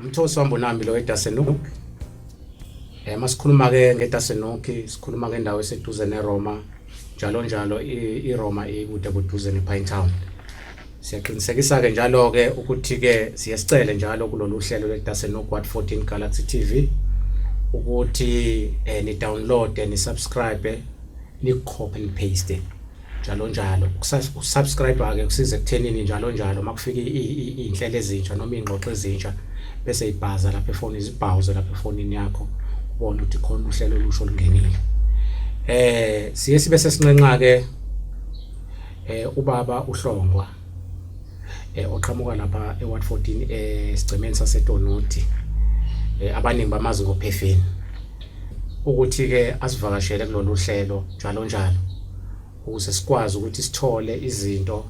Umthosi wambo nami lo eDasenuk. Eh masikhuluma ke ngeDasenuk, sikhuluma ngendawo eseduze neRoma, njalo njalo iRoma ikude kuduze nePine Town. Siyaqinisekisa ke njalo ke ukuthi ke siyesicele njalo kulolu hlelo lweDasenuk What 14 Galaxy TV ukuthi eh ni download ni subscribe ni copy and paste. njalo njalo ukusubscribe ke kusiza ekuthenini njalo njalo makufika izinhlelo ezintsha noma ingxoxo ezintsha bese ibhaza lapha efonini izibhawuze lapha efonini yakho ubone ukuthi khona uhlelo olusho olungenile eh siye sibe sesinqenqa ke eh ubaba uhlongwa eh oqhamuka lapha eWard 14 esigcemeni saseTonoti eh abaningi bamazi ngophefeni ukuthi-ke asivakashele kulolu hlelo njalo njalo ukuze sikwazi ukuthi sithole izinto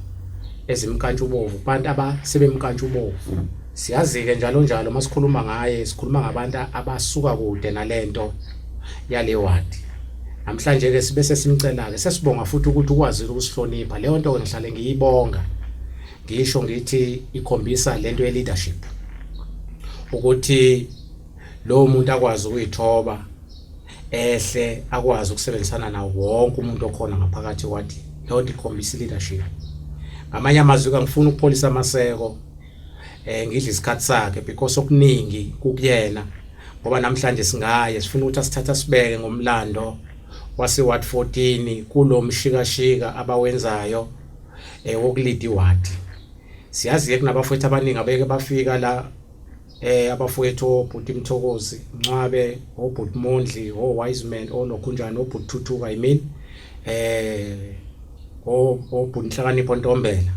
ezimkantshubovu kubantu abasebemkantshubovu siyazi-ke njalo njalo uma sikhuluma ngaye sikhuluma ngabantu abasuka kude nale nto yale wadi namhlanje-ke sibe sesimcela-ke sesibonga futhi ukuthi ukwazile ukusihlonipha leyo nto-ke ngihlale ngiyibonga ngisho ngithi ikhombisa le nto ye-leadership ukuthi lowo muntu akwazi ukuyithoba ehle akwazi ukusebenzisana nawo wonke umuntu okhona ngaphakathi kwathi leyo nto ikhombisa leadership ngamanye amazwi kangifuni ukupholisa amaseko eh ngidla isikhathi sakhe because okuningi kukuyena ngoba namhlanje singaye sifuna ukuthi asithatha sibeke ngomlando wase ward 14 kulomshikashika abawenzayo eh wokulidi ward siyazi ke kunabafowethu abaningi abeke bafika la eh abafowethu obhuti Mthokozi Ncwabe obhuti Mondli o wise man onokhunjana obhuti Thuthuka i mean eh obhuti Nhlakanipho Ntombela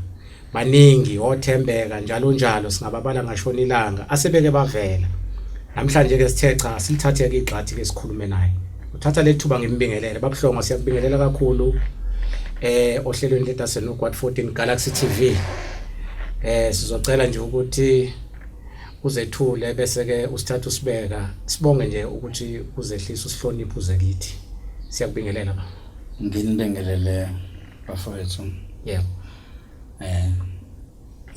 baningi othembeka njalo njalo singababala ngashona ilanga asebeke bavela namhlanje ke sithe cha silithathe ke igxathi ke sikhulume naye uthatha lethuba ngimbingelele babuhlongo siyakubingelela kakhulu eh ohlelweni ledasenogwad 14 Galaxy TV eh sizocela nje ukuthi uzethule bese ke usithatha usibeka sibonge nje ukuthi uzehlisa usihloniphe uze kithi siyakubingelela ba nginibingelele bafowethu yeah eh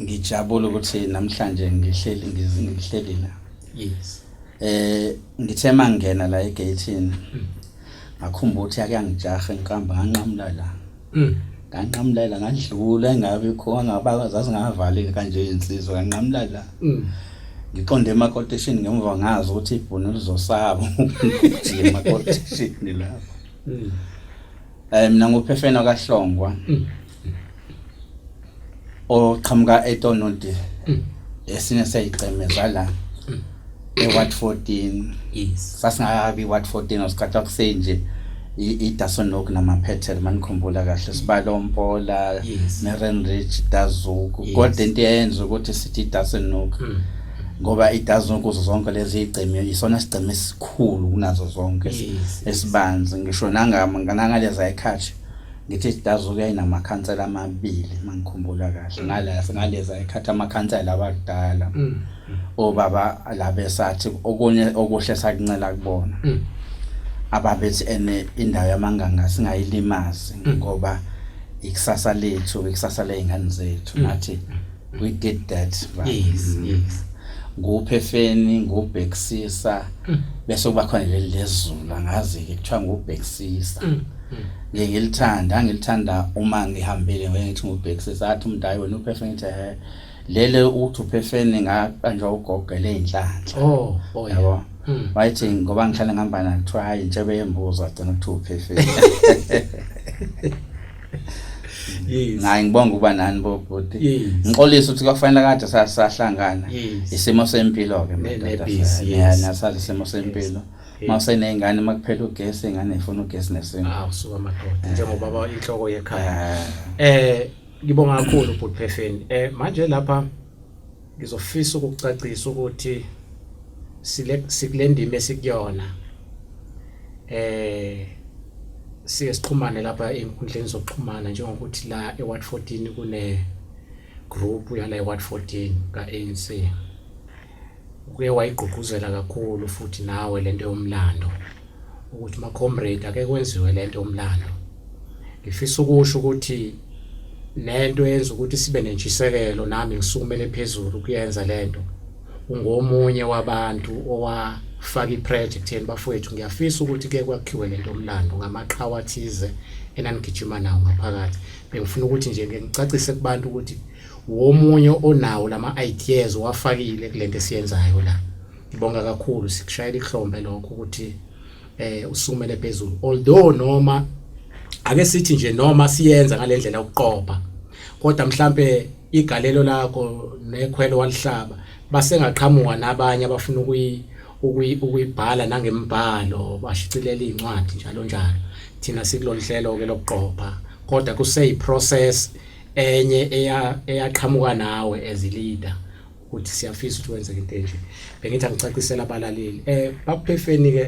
ngijabule ukuthi namhlanje ngihleli ngihleli la yes eh ngithe mangena la egate mm. ngakhumbula ukuthi akangijahe ngihamba nganqamula la Mm. Nganqamulela ngadlula engabe khona ngaba zazingavalile kanje insizwa nganqamulela. Mm. Ngiqonde emakotishini ngemva ngazi ukuthi ibhunu lizosaba ukuthi emakotishini lapho. Mm. Eh mina ngophefena kaHlongwa. Mm. oqhamuka eTonodi mm. esinye seyiceme zala mm. eWard 14 yes sasingakabi iWard 14 osikhathi kusenje iDasonok namaphethel manikhumbula kahle sibalo Mpola yes. Merenrich Dazuku yes. kodwa into eyenza ukuthi sithi iDasonok mm. ngoba iDasonok kuzo zonke lezi igceme isona sigceme esikhulu kunazo zonke yes. esibanzi ngisho nangama ngangaleza ekhathi ngithi idazu yayinamakhansela amabili mangikhumbula kahle ngala singaleza ekhatha amakhansela abadala mm. obaba labe sathi okunye okuhle sakuncela kubona mm. ababethi ene indawo yamanganga singayilimazi mm. ngoba ikusasa lethu ikusasa lezingane zethu nathi we did that right? yes mm. yes nguphefeni ngubhekisisa mm. bese kuba khona leli lezulu angazi ke kuthiwa ngubhekisisa mm. mm. ngiye ngilithanda ngilithanda uma ngihambile ngeke ngithi ngubhekisisa athi umuntu hayi wena uphefeni ngithi he lele uthi uphefeni ngaqanjwa ugogo eleyinhlanhla oh oh yabo hmm. wayithi ngoba ngihlale ngihamba nakuthiwa hayi ntshebe yembuzo agcina kuthiwa uphefeni Yes. Ngayi ngibonga ukuba nani bo bhuti. Yes. Ngixolisa ukuthi kwafanele kade sasahlangana. Yes. Isimo sempilo ke madoda. Yes. Yeah, nasazi isimo sempilo. Yes. uma useney'ngane uma kuphela ugesi ingane ifuna ugesi nesintu ah usuka amadoda njengoba baba inhloko yekhaya eh ngibonga kakhulu bhuti phefeni eh manje lapha Ngizofisa ukucacisa ukuthi sile sikulendima esikuyona eh siye sixhumane lapha enkundleni zokuxhumana njengokuthi la eWard 14 kune group yala eWard 14 kaANC uke wayigqugquzela kakhulu futhi nawe lento yomlando ukuthi macomrade ake kwenziwe lento umlando ngifisa ukusho ukuthi nento yenza ukuthi sibe nentshisekelo nami ngisukumele phezulu kuyenza lento ungomunye wabantu owafaka ipressure ekutheni bafowethu ngiyafisa ukuthi ke kwakhiwe lento omlando ngamaqhawe athize enanigijima nawo ngaphakathi bengifuna ukuthi nje ngicacise kubantu ukuthi womunye onawo lama ideas wafakile kulento esiyenzayo la Ngibonga kakhulu sikushayela ihlombe lokho ukuthi eh usumele phezulu although noma ake sithi nje noma siyenza ngalendlela yokuqopha kodwa mhlambe igalelo lakho nekhwelo walihlaba basengaqhamuka nabanye abafuna ukuyi ukuyibhala nangembhalo bashicilela izincwadi njalo njalo thina sikulolu hlelo ke lokuqopha kodwa kuseyi process enye eyaqhamuka nawe as leader ukuthi siyafisa ukuthi wenzeke into enje bengithi angicacisela abalaleli eh bakuphefeni ke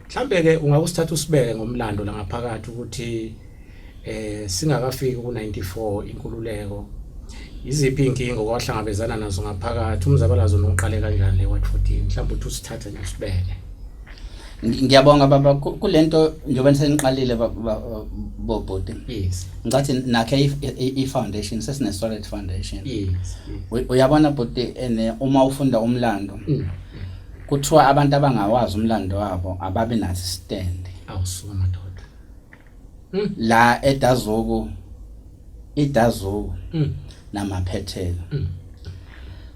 mhlambe ke ungakusithatha usibeke ngomlando la ngaphakathi ukuthi eh singakafiki ku94 inkululeko iziphi inkingo kwahlangabezana nazo ngaphakathi umzabalazo noqale kanjani le Watch 14 mhlawumbe uthi usithathe nje usibeke Ngiyabonga baba kulento njengoba niseniqalile bobhuti. Yes. Ngathi nakhe i foundation sesine solid foundation. Yes. Uyabona bhuti ene uma ufunda umlando. Mm. Kuthiwa abantu abangawazi umlando wabo ababe nathi stand. Awusuka madoda. Mm. la edazuku idazuku Mm. namaphethelo Mm.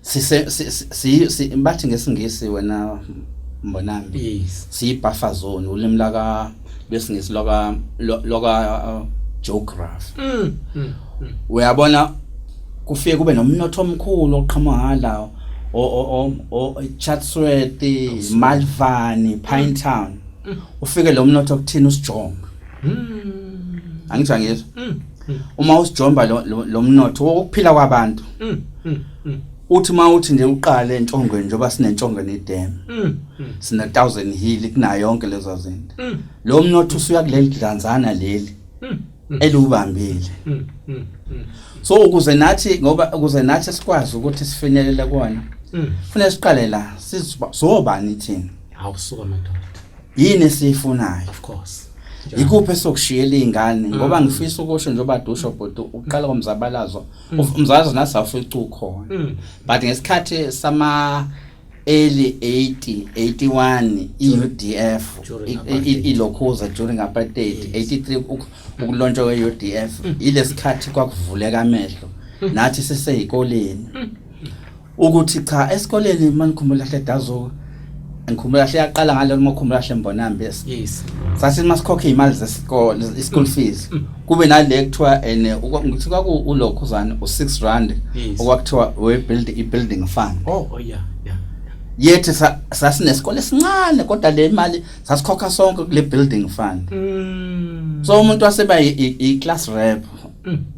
sise si- si- si- si- bathi ngesingisi wena mbonambi Yes. siyibuffer zone ulimi laka lwesingisi loka lo- loka uh, geography Mm. Mm. Mm. uyabona kufike kube nomnotho omkhulu oqhamuka ngalawo o- o- o- o- Chatsworth, Malvani, Pinetown ufike lo mnotho kuthina usijomba hmm. angitsho angizwa hmm, hmm. uma usijomba lo mnotho wokuphila kwabantu uthi uma uthi nje uqale entshongweni njengoba sinentshongweni idam sine thousand hill kunayo yonke lezo zinto lo mnotho usuya kuleli dlanzana leli eliwubambile so ukuze nathi ngoba ukuze nathi sikwazi ukuthi sifinyelele kona kufanele siqale la sizobani thina Hawu suka madoda. Yini esiyifunayo? Of course. Yikuphi esokushiyela izingane mm. ngoba ngifisa ukusho njengoba dusho bhuti uqala komzabalazo. Mm. Umzalazo nasi awufica ukhona. Mm. But ngesikhathi sama early 80 81 iUDF ilokhuza during apartheid 83 ukulontshwa kweUDF ilesikhathi kwakuvuleka amehlo nathi siseyikoleni ukuthi cha esikoleni manikhumbula hle dazo ngikhumbula hle yaqala ngalo makhumbula hle mbonambi yes sase masikhokhe imali zesikole ischool mm. fees mm. kube nale kuthiwa and ngithi kwaku ulokho zani u6 rand okwakuthiwa we build i building fund oh, oh yeah yeah yethi sasinesikole sincane kodwa le mali sasikhokha sonke kule building fund mm. so umuntu waseba i class rep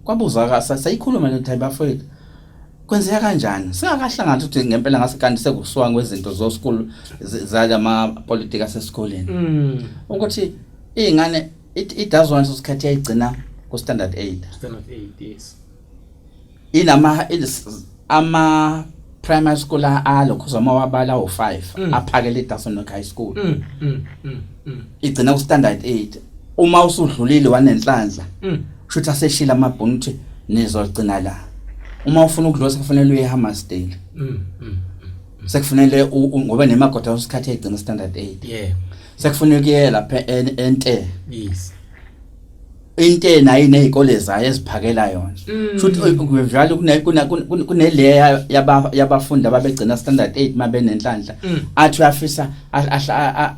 kwabuza ka sayikhuluma le type bafowethu Kwenzeka kanjani? Singakahlangani ukuthi ngempela ngase kanti sekusuka ngezinto zo school zalama politics asesikoleni. Mm. Ukuthi izingane it, it does want usikhathi yayigcina ku standard 8. Standard 8 yes. Inama ama primary school alokho zama wabala u5 mm. aphakele iDason High School. Mm. Mm. Mm. Igcina ku standard 8. Uma usudlulile wanenhlanhla. Mm. Shuthi aseshila amabhunu ukuthi nizogcina la. Uma ufuna ukudlosa kufanele uye eHammarsdale. Mm. mm, mm, mm. Sekufanele ngoba nemagoda usikhathi egcina standard 8. Yeah. Sekufanele kuye lapha ente. Yes. into nayo nezikole zayo eziphakela yona mm. futhi kuvela kuna kuneleya yabafundi ababegcina standard 8 mabenenhlanhla mm. athi uyafisa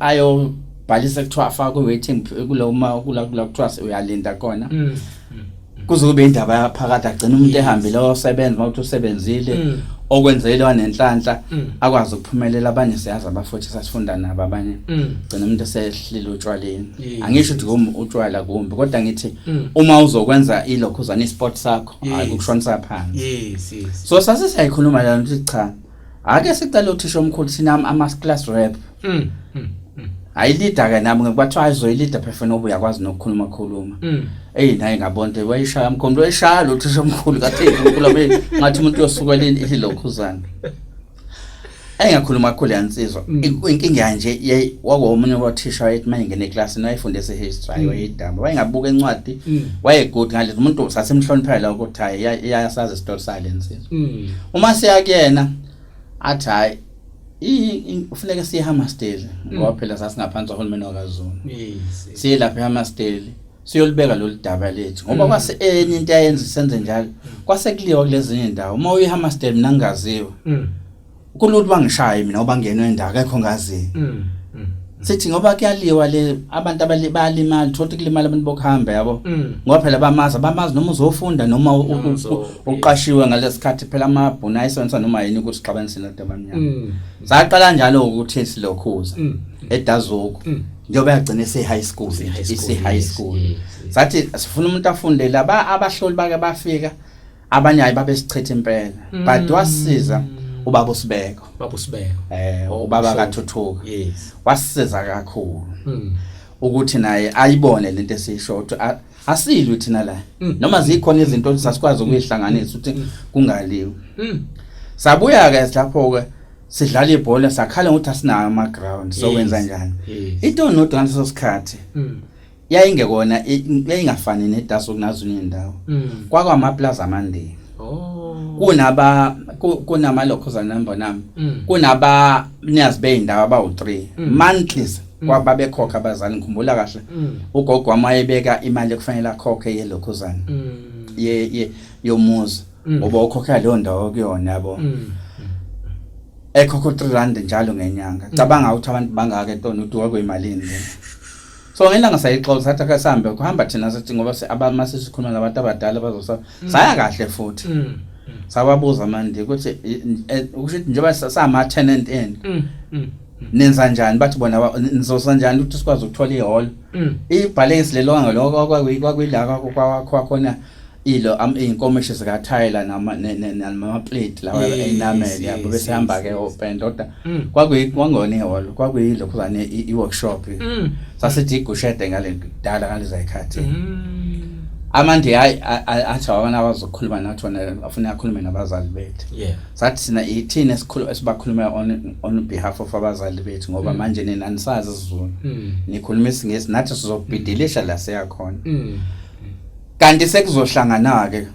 ayo bhalisa kuthiwa afaka ku waiting kulo uma kula kula kuthiwa uyalinda kona mm. mm, mm. kuze kube indaba yaphakade agcina umuntu ehambile osebenza mawuthi usebenzile mm. okwenzelwa nenhlanhla akwazi ukuphumelela abanye siyazi abafuthi sasifunda nabo abanye gcina umuntu esehlile utshwaleni angisho ukuthi kum utshwala kumbi kodwa ngithi uma uzokwenza ilokhuzana isport sakho hayi ukushonisa phansi so sase siyayikhuluma lana ukuthi cha Ake sicela uthisha omkhulu sinami ama class rep. Mm. mm. ayilida ke nami ngibathiwa ayizoyilida phefana obuya kwazi nokukhuluma khuluma mm. eyi naye ngabonte wayishaya mkhombe wayishaya lo thisha omkhulu kathi unkulu abe ngathi umuntu yosuka leni ilokhuzana engakhuluma kakhulu yansizwa mm. inkinga yanje yey wakomunye wathisha wayethi uma ingene eklasini wayefunde ese-history mm. wayedamba wayengabuka encwadi wayegood ngale umuntu sasemhloniphela ukuthi hayi iyasazi isitori sale nsini mm. uma siya kuyena athi hayi ufuneka siye Hammarsdale mm. ngoba phela sasingaphansi kwahulumeni wakaZulu siye lapha eHammarsdale siyolibeka lolu daba lethu ngoba mm. kwase enye into ayenza senze njalo mm. kwase kuliwa kulezinye indawo uma uyiHammarsdale mina ngingaziwa Kululu bangishaye mina ngoba ngenwe indawo akekho ngazi. Mm. mm. Sithi ngoba kuyaliwa le abantu abali balimali thothi kulimala abantu bokuhamba yabo. Mm. Ngoba phela bamazi abamazi noma uzofunda noma u- Noma u- uzo- u- uqashiwe ngalesikhathi phela amabhuna ayisonsa noma yini ukuthi sixabanise nento abamnyama. Mm. Saqala njalo ukuthi silokhuza. Mm. edazuko Mm. njengoba yagcina ise-high school Ise-high school, ise-high yes, school yes, yes. sathi sifuna umuntu afundele aba- abahloli bake bafika abanye hayi babesichitha impela mm. but wasiza ubaba usibeko baba usibeko eh oh, ubaba kathuthuka yes wasiza kakhulu mm. ukuthi naye ayibone lento esisho ukuthi asilwi thina la mm. noma zikhona izinto sasikwazi ukuyihlanganisa ukuthi mm. kungaliwe mm. sabuya ke lapho ke sidlala ibhola sakhala ukuthi asinayo ama ground so wenza njani ito nodwa ngaleso sikhathi yayingekona yayingafani nedaso kunazunye indawo mm. kwakwa amaplaza amandeni oh. kunaba kunama locals number nami mm. kunaba niyazi beyindawo abawu3 mm. monthlies mm. kwaba bekhokha abazali ngikhumbula kahle mm. ugogo wamayebeka imali ekufanele akhokhe ye locals mm. ye ye yomuzi mm. ngoba mm. ukhokha leyo ndawo kuyona yabo mm. ekhokho 3 rand njalo ngenyanga mm. cabanga ukuthi abantu bangaka etona uthi wakwemalini so ngelanga sayixoxa sathi ake sihambe kuhamba thina sathi ngoba abama sesikhuluma nabantu abadala bazosa mm. saya kahle futhi mm. Mm. sababuza manje ukuthi eh, ukuthi njengoba sama tenant end nenza njani bathi bona nizosa njani ukuthi sikwazi ukuthola ihall ibhalesi lelo ngaloko kwakwilaka kwakhona ilo am inkomishi zika Tyler nama nama plate lawa enamel yabo bese hamba ke open doda mm. kwakuyi kwangone hall kwakuyi lokho zane i workshop mm. sasithi igushede ngale kudala ngaliza ikhathi mm. amandi hayi athi abana abazokhuluma nathi wona afuna akhulume nabazali bethu yeah sathi sina ithini esikhulu esibakhuluma on on behalf of abazali bethu ngoba mm. manje nina nisazi isizulu mm. nikhuluma isingesi nathi sizobhidilisha la siyakhona mm. kanti sekuzohlangana ke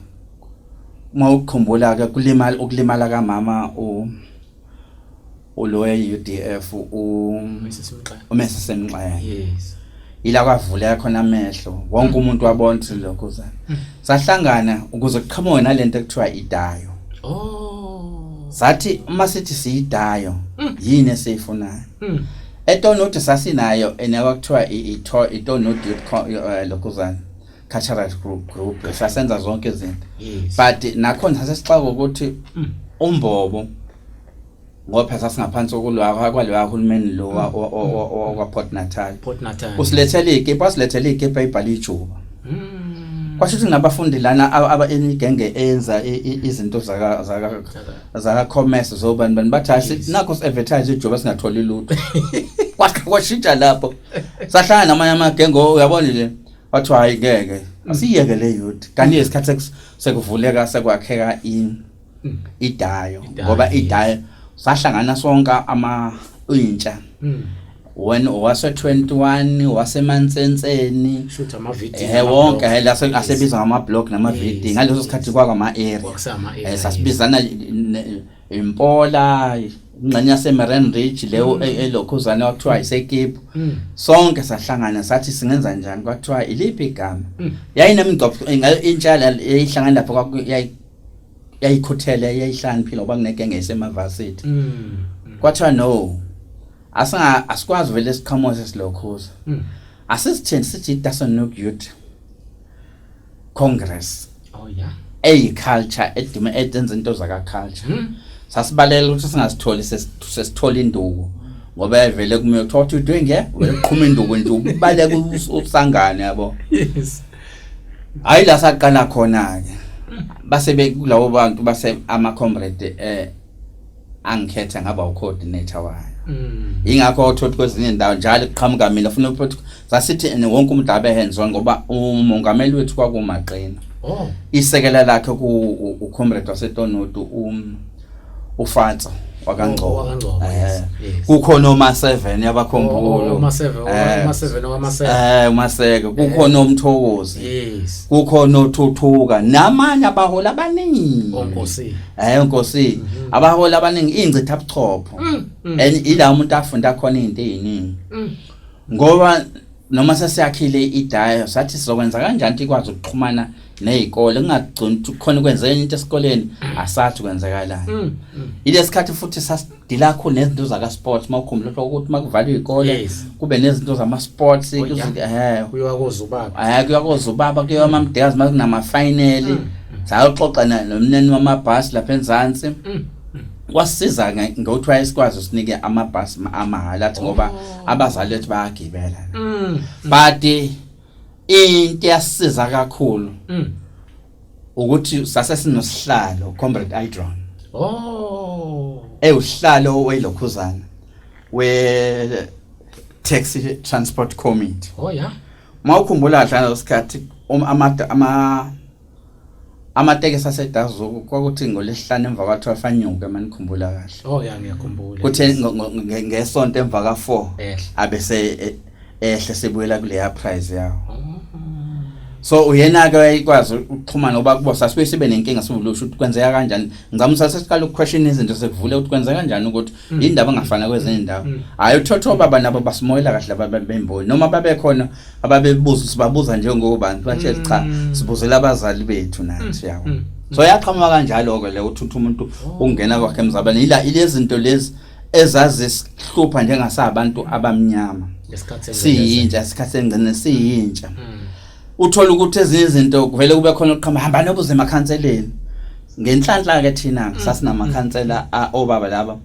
uma ukukhumbula ke kulimala ukulimala kamama u uloya UDF u umese semxaya yes ila kwavuleka khona amehlo wonke mm. umuntu wabona ukuthi lokho uzana mm. sahlangana ukuze kuqhamuke nalento ekuthiwa idayo oh sathi uma sithi siyidayo mm. yini esiyifunayo etonudi sasinayo enekwa kuthiwa itonudi eh, lokuzana cultural group group sasenza zonke izinto but nakhona sasesixaka ukuthi mm. umbobo ngoba sasingaphansi kokulwa kwalewa hulumeni lo mm. wakwaPort Natal usilethele ikipa wasilethele ikipa ibhala ijuba mm. kwasho ukuthi nabafundi lana aba enigenge enza izinto zaka zaka zaka commerce zobani bani bathi yes. nakho si advertise ijoba singatholi lutho kwakhe kwashintsha lapho sahlangana namanye amagenge oh, uyabona nje wathi hayi ngeke mm. asiyeke le youth kanti isikhathi sekuvuleka sekwakheka in mm. idayo ngoba idayo sahlangana sonke ama intsha mm. wena wase-21 wasemansenseni shutha amavideo eh wonke eh, la se- asebiza ngama-blog nama-vd ngaleso sikhathi kwakama-area kwakusama-area, Eh, sasibizana ne- impola ingxenye yasemeren ridge leyo Mm. e- elokhuzane kwakuthiwa isekiphu sonke sahlangana sathi singenza njani kwathiwa iliphi igama Mm. yayinemigcobho inga- intsha yala- yayihlangana lapho kwaku- yayi- yayikhuthele yayihlaniphile ngoba kunegenge yayisemavasithi Mm. kwathiwa no asinga asikwazi vele siqhamuze silokhuza hmm. asisithini sithi idasa nuk youth congress oh yeah eyi culture edume edenza into zaka culture hmm. sasibalela ukuthi singasitholi sesithola induku ngoba evele kume uthola ukuthi udwe nge uqhuma induku nje ubaleka usangane yabo yes hayi la saqala khona ke hmm. base bekulawo bantu base ama comrade eh angikhetha ngaba ucoordinator wayo mm. ingakho othothi kwezinye indawo njalo kuqhamuka mina ufuna ukuthi sasithi wonke umuntu abe hands on ngoba umongameli wethu kwakumaqina oh isekela lakhe ku ucomrade wasetonodu um ufatso wakangcobo wakangcobo eh, kukhona uma 7 yabakhombulo uma 7 uma 7 uma 7 eh uma seke eh, kukhona umthokozi yes kukhona othuthuka namanye abahola abaningi onkosi Eh nkosi abaholi abaningi ingcitha buchopho Mm, mm, and ila umuntu afunda khona izinto eziningi mm. ngoba noma sesiyakhile idayo sathi sizokwenza kanjani ukuthi ikwazi ukuxhumana nezikole kungagcini ukuthi khona kwenzeka into esikoleni asathi kwenzakalani Mm, mm. ilesikhathi futhi sas dilakho nezinto zaka sports mawukhumbula ukuthi makuvaliwe ikole kube nezinto zama sports oh, eh kuyiwa kozubaba hayi kuyiwa kozubaba kuyiwa mm. amamdekazi makunama final mm. sayoxoxa nomneni wamabhasi lapha enzansi mm. kwasiza ngokuthiwa isikwazi sinike amabhasi amahhala athi ngoba oh. abazali bethu bayagibela but into yasiza kakhulu ukuthi sase sinosihlalo comrade Idron oh ewuhlalo welokhuzana we taxi transport committee oh yeah mawukhumbula kahle ngesikhathi um, ama ama amatekisi asedazuku kwakuthi ngolesihlanu emva kwa 12 anyuke manikhumbula kahle oh yeah ngiyakhumbula kuthe ngesonto emva ka 4 abese e, ehle sebuyela kuleya prize yawo so uyena ke wayikwazi ukuxhumana ngoba kubo sasibe sibe nenkinga sivulusha ukuthi kwenzeka kanjani ngizama sasiqala ukuquestion izinto sekuvule ukuthi kwenzeka kanjani ukuthi mm. indaba engafana kwezinye indawo mm. hayi uthotho baba nabo basimoyela kahle abantu bemboni noma babekhona ababebuza sibabuza njengobantu bathe cha mm. sibuzela abazali bethu nathi yawo so yaqhamuka kanjalo ke le uthutha umuntu ungena kwakhe emzabane ila ilezinto lezi ezazisihlupha njengasabantu abamnyama siyintsha isikhathi engcine siyintsha hmm. uthola ukuthi ezinye izinto kuvele kube khona ukuqhamba hamba nobuze emakhanseleni ngenhlanhla ke thina hmm. sasinamakhansela obaba laba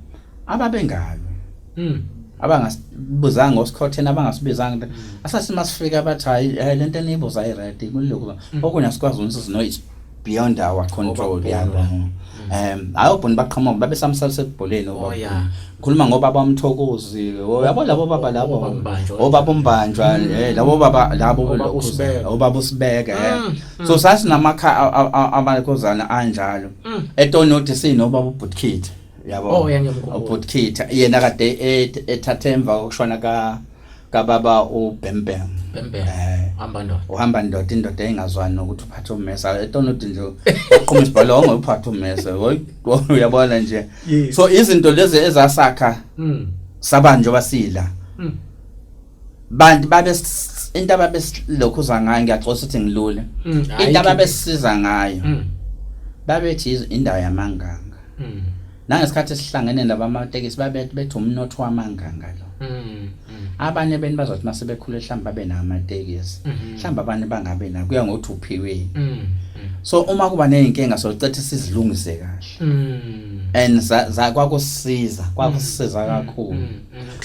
ababengalo hmm. abangasibuzanga ngosikhotheni abangasibizanga asasima sifika bathi hayi lento eniyibuza i-right kulokhu okunye asikwazi ukuthi sinoyithi beyond our control yabo um ayobhona baqhamuka babe samsalisa ebholeni oh, ngikhuluma ngoba bamthokozi oh, yabo labo baba labo obaba umbanjwa oh, mm. eh, labo baba labo obaba usibeka eh. mm, mm. so sasinamaka amakhozana anjalo etonoti sinobaba ubhutkit yabo ubhutkit yena kade ethathe emva kokushona ka kababa ubhembhem bhembhem eh. hamba ndoda uhamba ndoda indoda engazwani nokuthi uphathe ummesa etona uthi nje uqhuma isibhalo onge uphathe ummesa uyabona nje so izinto lezi ezasakha hmm. saba njengoba sila hmm. bantu babe into ababesilokhu za ngayo ngiyaxosa ukuthi ngilule hmm. into ababesiza ngayo babethi indawo yamanganga nangesikhathi esihlangene laba amatekisi babethi bethi umnotho wamanganga lo mm, mm. abanye beni bazothi uma sebekhule mhlawumbe babe nawo amatekisi mm-hmm. mhlawumbe abanye bangabe na kuya ngokuthi uphiweni mm, so uma kuba ney'nkinga socetha sizilungise kahle and kwakusiza kwakusiza kakhulu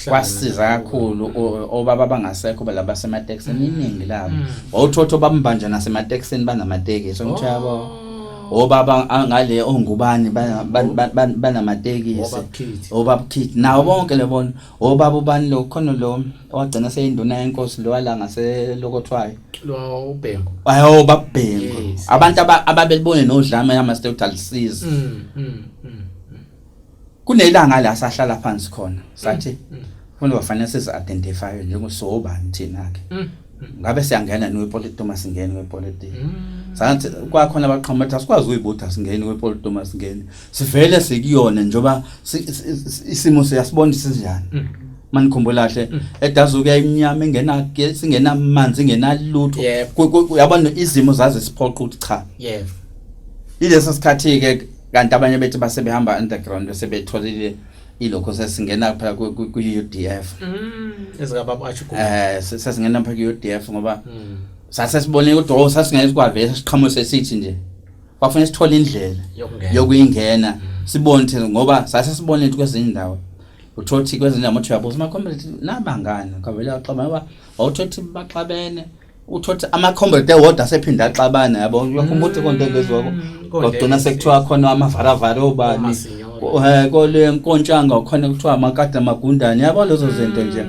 kwasiza kakhulu obaba abangasekho laba basematekisini iningi labo wawuthotho bambanje nasematekisini banamatekisi ngitshabo obaba ngale ongubani banamatekisi obabukhithi nawo bonke lebona obaba ubani lo khona lo owagcina seyinduna yenkosi lo wala ngaselokothwayo lo ubhengu ayo babhengu abantu ababelibone nodlame yama stewtalisiza mm, mm, mm. kunelanga la sahlala phansi khona sathi mm, mm. kufanele bafanele sizi identify njengo so bani thina ke mm, ngabe siyangena ni wepolitiki uma singena wepolitiki sathi kwakhona abaqhamuka bathi asikwazi uyibutha singena wepolitiki uma singena sivele sikuyona njoba isimo siyasibona sinjani manikhumbula kahle edazu kuyayimnyama engena singena amanzi ingena lutho yabona izimo zaze siphoqa ukuthi cha yebo ilesi sikhathi ke kanti abanye bethu basebehamba underground bese betholile ilokho sesingena phela ku-UDF mm. ezikababa athi eh sesingena phela ku-UDF ngoba mm. sase sibone ukuthi oh sasingeke sikwavesa siqhamuke sesithi nje kwafanele sithole indlela yokuyingena mm. sibone ukuthi ngoba sase sibone ukuthi kwezinye indawo uthothi kwezinye amathu yabo sima community nabangani kavela axabana wawuthothi baxabene utho ukuthi ama-comrade ewodwa asephinde axabane yabo uyakhumbula ukuthi konto engeziwako Mm, konto kodwa engeziwa. sekuthiwa khona amavaravara obani Omasinyolo. ko- eh, kole nkontshanga khona kuthiwa amakade amagundane yabo lezo zinto nje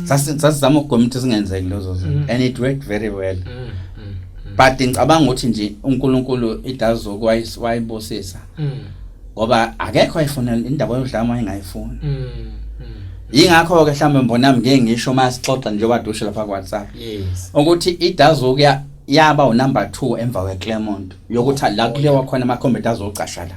Sasi- sasizama ukugwema ukuthi zingenzeki lezo zinto Mm. and it worked very well Mm, mm, mm, but ngicabanga ukuthi nje unkulunkulu idazi zokwayibusisa mm. ngoba akekho ayifuna indaba yodlama engayifuni mm, mm. yingakho ke mhlawumbe mbonami ngeke ngisho uma sixoxa nje kwadushe lapha ku WhatsApp yes ukuthi idazokuya yaba u number 2 emva kwe Clermont yokuthi la kulewa khona ama combat azocasha la